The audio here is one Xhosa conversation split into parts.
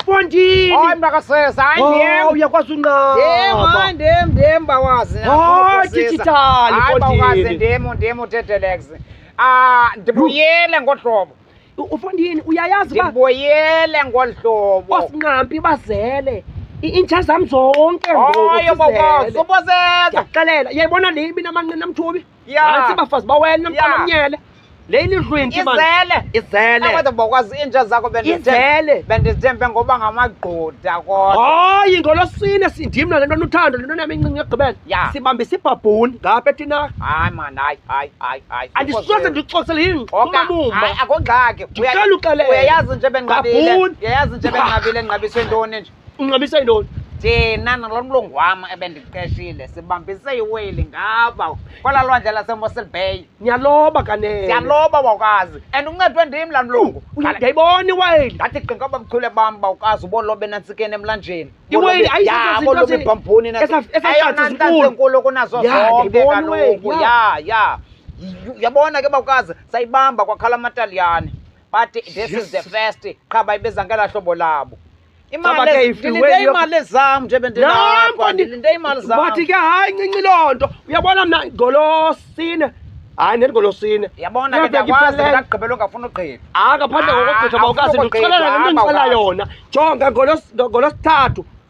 Pontini. Hayi makasesa, hayi ndim. Oh, uyakwazi unqaba. Ndim, hayi ndim, ndim bawazi. Hayi digital Pontini. Hayi bawazi ndim, ndim utetelex. Ah, ndibuyele ngohlobo. Ufondini uyayazi ba? Ndibuyele ngohlobo. Osinqampi bazele. intsha zam zonke ngoku. Hayi bokoso, uboseza. Ndiyakhalela. Yayibona le ibinamanqina mthubi. Nantsi bafazi bawena mqamanyele le ilidlwinti izele izele akwade bokwazi iinja zakho bendizele bendizithembe ngoba ngamagqoda kodwa hayi ngolosine sindim nale nto nuthando le nto nam incinci egqibela ya sibambisa ibhabhuni ngapha etina hayi man hayi hayi hayi hayi andisoze ndixoxele yini umamuma akongxaki uyayazi nje benqabile uyayazi nje benqabile enqabiswe ntoni nje unxabisa yintoni thina nalo mlungu wam ebendiqeshile sibambise iweyili ngaba kwala lwandle lasemosel bay niyaloba kanene siyaloba wawukazi and uncedwe ndim laa mlungu ndiyayibona iweyili ndathi qinga uba mchule bam bawukazi ubolobe nantsikeni emlanjeni iweyili ayibolobe ibhambhuni enkulu kunazo zonke kaloku ya ya yabona ke bawukazi sayibamba kwakhala amataliyane bathi this is the first qha bayibeza ngela hlobo labo Caba ke if you ndilinde were- imali zam nje bendinapha Nanko ndi- ndilinde imali zam bathi ke hayi ncinci loo nto uyabona mna ngolosine hayi neli ngolosine yabona ke Nabheka ndiyakwazi iphelele. ndagqibela ungafuna ugqiba akaphandle Ah, ngokogqitha awufuni bawukazi ndikuxelela le nto ukugqitha, ndixela awukazi. yona jonga ngolos- ngolosithathu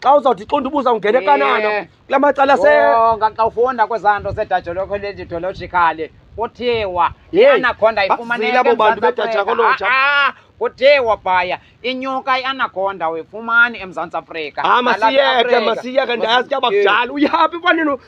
xa uzawuthi xa undibuza ungene Eh. kanana kula macala se Oh, nga- xa ufunda kwezaa nto zedajaloko lejidologikhali kuthiwa Yey, ianaconda bazile ifumaneka abo bantu eMzantsi Afrika. bedajakoloja. Ah, ah, kuthiwa phaya inyuka ianaconda uyifumani emzantsi afrika Ah, Nalapha masiyeke eAfrika. masiyeke ndayazi ke abakudala uyaphi kwanini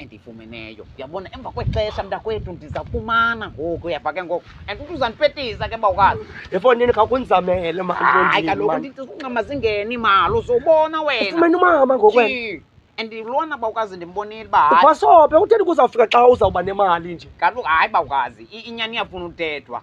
andifumeneyo yabona emva kwexesha mntakwethu ndizawufumana ngoku uyava ke ngoku and uthi uzandipetisa ke bawukazi efondini khakundizamele hayi kaloku ndithi uncama zingeni imali uzobona wenafumene umama ngokwena and lona bawukazi ndimbonile uba hayi ubasobe utheni kuzawufika xa uzawuba nemali nje kaloku hayi bawukazi inyani iyafuna utethwa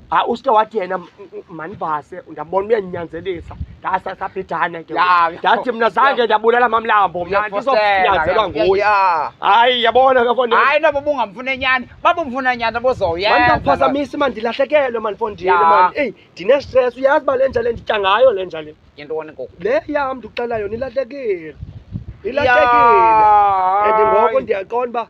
ha uske wathi yena m- m- manibase ndabona uyanyanzelisa ndasasabhidane ke Ya, ya. ndathi mna zange ndabulala mamlambo mna ndizokunyanzelwa nguye Ya. hayi yabona ke fondini hayi noba ubungamfune nyani babumfuna nyani bozoyenza mandiphazamisi mani ndilahlekelwe mani fondini Ya. mani eyi ndinestress uyazi uba le nja le nditya ngayo le nja le yintoni ngoku le yam ndikuxela yona ilahlekile ilahlekile and ngoku ndiyaqonda uba